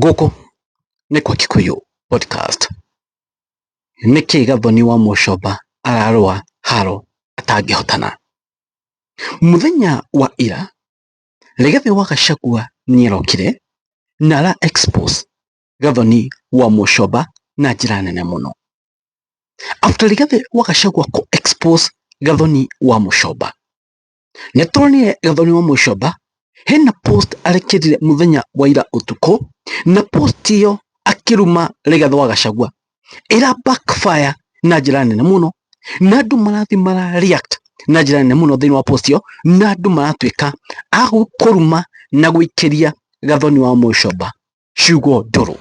Gũkũ nĩ kwa Kikuyu Podcast. Nĩkĩ Gathoni wa Mũcomba ararũa haro atangĩhotana? Mũthenya wa ira, Rigathi wa Gachagua nĩarokire na ara expose Gathoni wa Mũcomba na njĩra nene mũno. After Rigathi wa Gachagua kũ expose Gathoni wa Mũcomba, nĩtwonire gathoni wa mũcoba hena post arekĩrire mũthenya wa ira ũtukũ na post iyo akĩruma Rigathĩ wa Gachagua ĩra backfire na njĩra nene mũno na andũ marathi mara react na njĩra nene mũno thĩinĩ wa post iyo na andũ maratuĩka a kũruma na gũikĩria gathoni wa mũcoba ciugo ndũrũ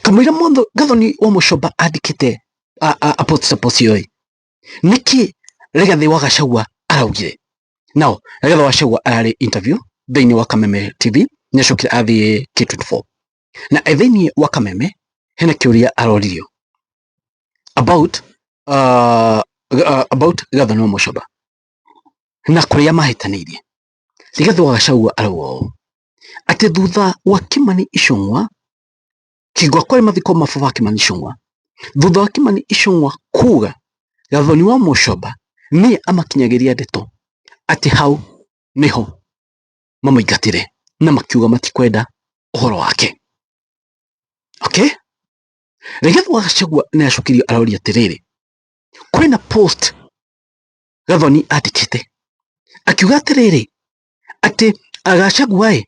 kamũira mũndũ gathoni wa mũcoba andĩkĩte a- a- a post ta post iyo nĩkĩ Rigathi wa Gachagua araugire now Rigathi wa Gachagua ararĩ interview thĩinĩ wa Kameme TV nĩacokire athiĩ K24 na e thĩinĩ wa Kameme hena kĩũria aroririo about uh, uh, about Gathana Mũcoba na kũrĩa mahĩtanĩirie Rigathi wa Gachagua arauga ũũ atĩ thutha wa Kimani Ichung'wa Kĩgwa kwarĩ mathiko ma baba wa Kimani Icũng'wa. Thutha wa Kimani Icũng'wa kuga Gathoni wa Mũcomba nĩ amakinyagĩria ndeto atĩ hau nĩho mamũingatĩre na makiuga matikwenda ũhoro wake. Okay? Rigathi wa Gachagua nĩ acokirio aroria atĩrĩrĩ, kwĩna post Gathoni andĩkĩte akiuga atĩrĩrĩ, atĩ Gachagua ĩ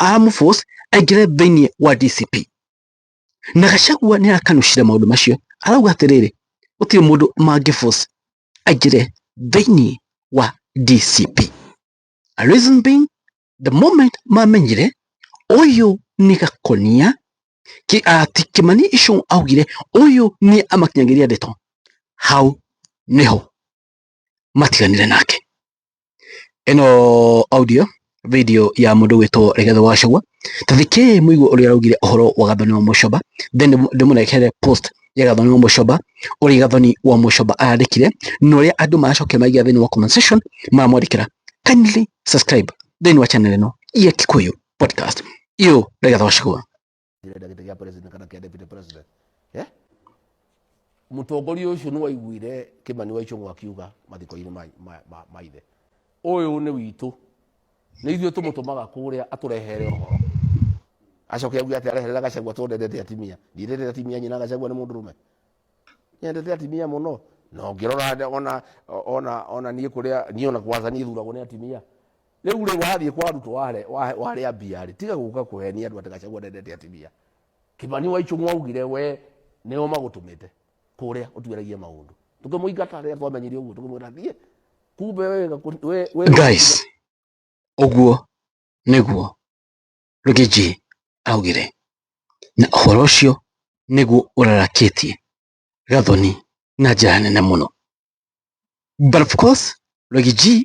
aramũforce aingĩre thĩinĩ wa DCP na Gachagua nĩ arakanucire maũndũ macio arauga atĩrĩrĩ gũtirĩ mũndũ mangĩforce aingĩre thĩinĩ wa DCP reason being the moment mamenyire ũyũ nĩ gakonia ki ati kimani icu augire uyu ni amakinyagĩria ndeto hau niho matiganire nake. Ĩno audio video ya mũndũ gwĩtwo Rigathĩ wa Gachagua. Ta thikĩĩ mũigue ũrĩa araugire ũhoro wa Gathoni wa Mũcoba, then ndĩmũrehere post ya Gathoni wa Mũcoba, ũrĩa Gathoni wa Mũcoba arandĩkire, na ũrĩa andũ maracokire maiga thĩinĩ wa comment section maramwandĩkĩra. Kindly subscribe thĩinĩ wa channel ĩno ya Kikuyu Podcast. Iyo Rigathĩ wa Gachagua. njĩra ĩrĩa gĩtĩ gĩa president kana kĩa deputy president Eh? mũtongoria ũcio nĩ waiguire kĩmani wa icũng'wa akiuga mathiko-inĩ ma- ma- ma- ma ithe ũyũ nĩ witũ nĩ ithuĩ tũmũtũmaga kũrĩa atũrehere ũhoro acoke auge atĩ areherera gacagua tondendete atimia ndiendete atimia nyina gacagua nĩ mũndũ rũme nyendete atimia mũno na ũngĩrora ona ona ona niĩ kũrĩa niĩ ona kwanza niĩ thuragwo nĩ atimia Rĩu rĩ wathiĩ kwa Ruto ware- wa- warĩa mbia rĩ tiga gũka kũhenia andũ atĩ Gachagua ndendete atumia. Kimani wa Ichung'wa augire we nĩo magũtũmĩte kũrĩa ũtuĩragie maũndũ. Tũkĩmũingata rĩrĩa twamenyire ũguo tũkĩmwĩra thiĩ. Kumbe we gakũ- we- we- guys ũguo nĩguo rũgĩnjĩ augire na ũhoro ũcio nĩguo ũrarakĩtie gathoni na njĩra nene mũno but of course rũgĩnjĩ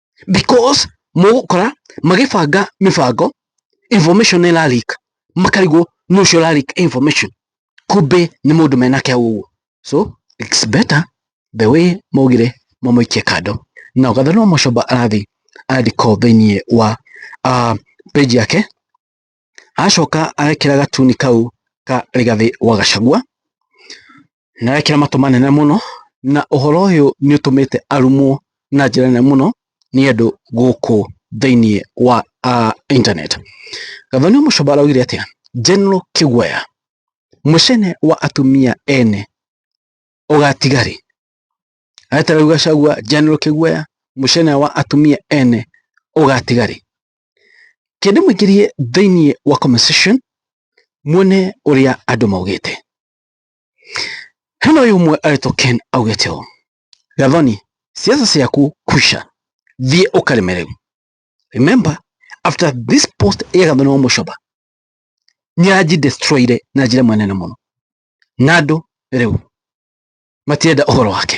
because mũgũkora magĩbanga mĩbango information ĩra leak makarigwo nũ ũcio ũra leak information kumbe nĩ mũndũ mena kĩao ũguo so it's better the way maugire mamũikie kando na ũgatha no mũcomba arathiĩ andĩko thĩinĩ wa uh, page yake Acoka arekĩra gatuni kau ka Rigathĩ wa Gacagua, na arekĩra matũ manene mũno, na ũhoro ũyũ nĩ ũtũmĩte arumwo na njĩra nene mũno nĩ andũ gũkũ thĩiniĩ wa internet. Gathoni Mũcomba araugire atĩa? General Kĩguoya, mũcene wa atumia ene ũgatiga rĩ? Areterera rĩu Gacagua, General Kĩguoya, mũcene wa atumia ene ũgatiga rĩ? Kĩndũ mũingĩrie thĩinĩ wa comment section muone ũrĩa andũ maugĩte. Hena ũyũ ũmwe aretwo Ken augĩte ũũ, Gathoni, siasa ciaku kusha, thiĩ ũkarĩme rĩu. Remember, after this post ya Gathoni wa Mũcoba, nĩanji destroyire na njĩra manene mũno, na andũ rĩu matirenda ũhoro wake.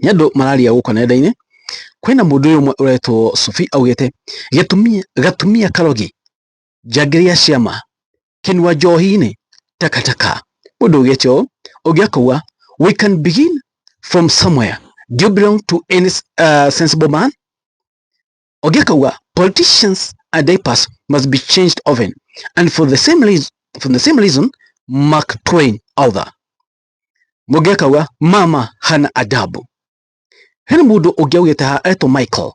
Nĩ andũ mararia gũkũ nenda-inĩ, kwĩna mũndũ ũyũ ũmwe ũretwo Subi augĩte, gĩtumia gatumia karogi, njangiri ya ciama, kĩnua njohi-inĩ, taka taka. Mũndũ augĩte ũũ, ũngĩ akauga, we can begin from somewhere, do you belong to any uh, sensible man? Ũngĩ akauga, politicians and diapers must be changed often and for the same reason, for the same reason Mark Twain author. mũngĩ akauga mama hana adabu he mũndũ ũngĩ augĩte haha etwo Michael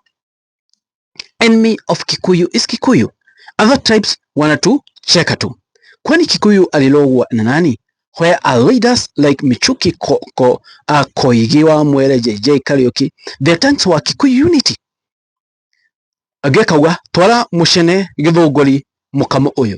enemy of Kikuyu is Kikuyu other tribes wana tu cheka tu kwani Kikuyu alilogwa na nani where are leaders like Michuki ko, ko, uh, Koigi wa Mwere JJ Kariuki the tanks wa Kikuyu unity angĩ akauga twara mũcene gĩthũngũri mũkamo ũyũ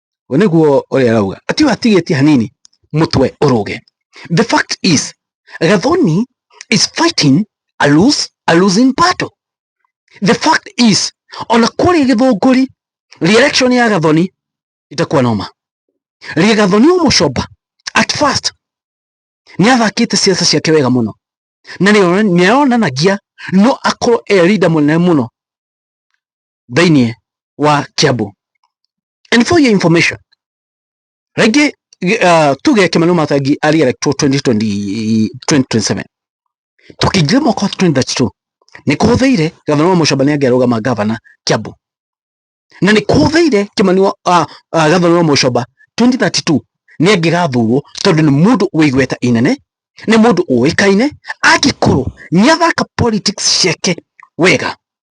we niguo ũrĩa arauga ati we atigĩtie hanini mũtwe ũrũge the fact is gathoni is fighting a lose a losing battle the fact is ona kũrĩ gĩthũngũri reelection ya gathoni itakuwa noma rĩe gathoni ũmũcomba at first nĩ athakĩte ciaca ciake wega mũno na nĩ ayonanagia no akorwo e leader mũnene mũno thĩinĩ wa Kiambu. And for your information, rĩngĩ uh, tuge Kimani Matangi arĩ electwo 2020, 2027 tũkĩingĩra mwaka wa 2032 nĩ kũhũthĩire gavana wa Mũcomba nĩ angĩarũgama gavana Kiambu na nĩ kũhũthĩire Kimani wa uh, uh, gavana wa Mũcomba 2032 nĩ angĩgathurwo tondũ nĩ mũndũ wĩ igweta inene nĩ mũndũ ũĩkaine angĩkorwo nĩ athaka politics ciake wega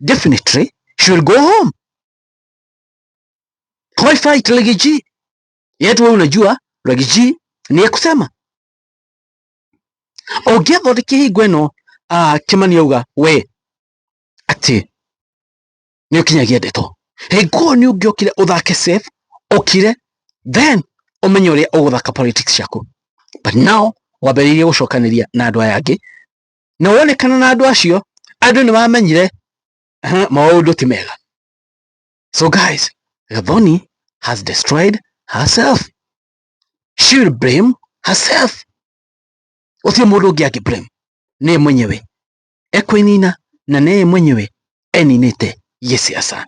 definitely she will go home. Why fight Legiji? Yet wewe unajua Legiji ni ya kusema ũngĩathondeke hingo ĩno ah, kĩmani auga we atĩ nĩ ũkinyagia ndeto hingo ĩyo nĩ ũngĩokire ũthake safe ũkire then ũmenye ũrĩa ũgũthaka politics ciaku but now wambĩrĩirie gũcokanĩria na andũ aya angĩ na wonekana na andũ acio andũ nĩ wamenyire maũndũ ti mega so guys gathoni has destroyed herself she will blame herself ucio mundu ungi angi blame ni mwenyewe ekwinina na ni mwenyewe eninite giciaca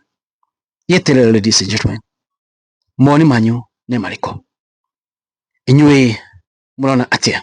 gieterere ladies and gentlemen moni manyu ni mariko inyui murona atia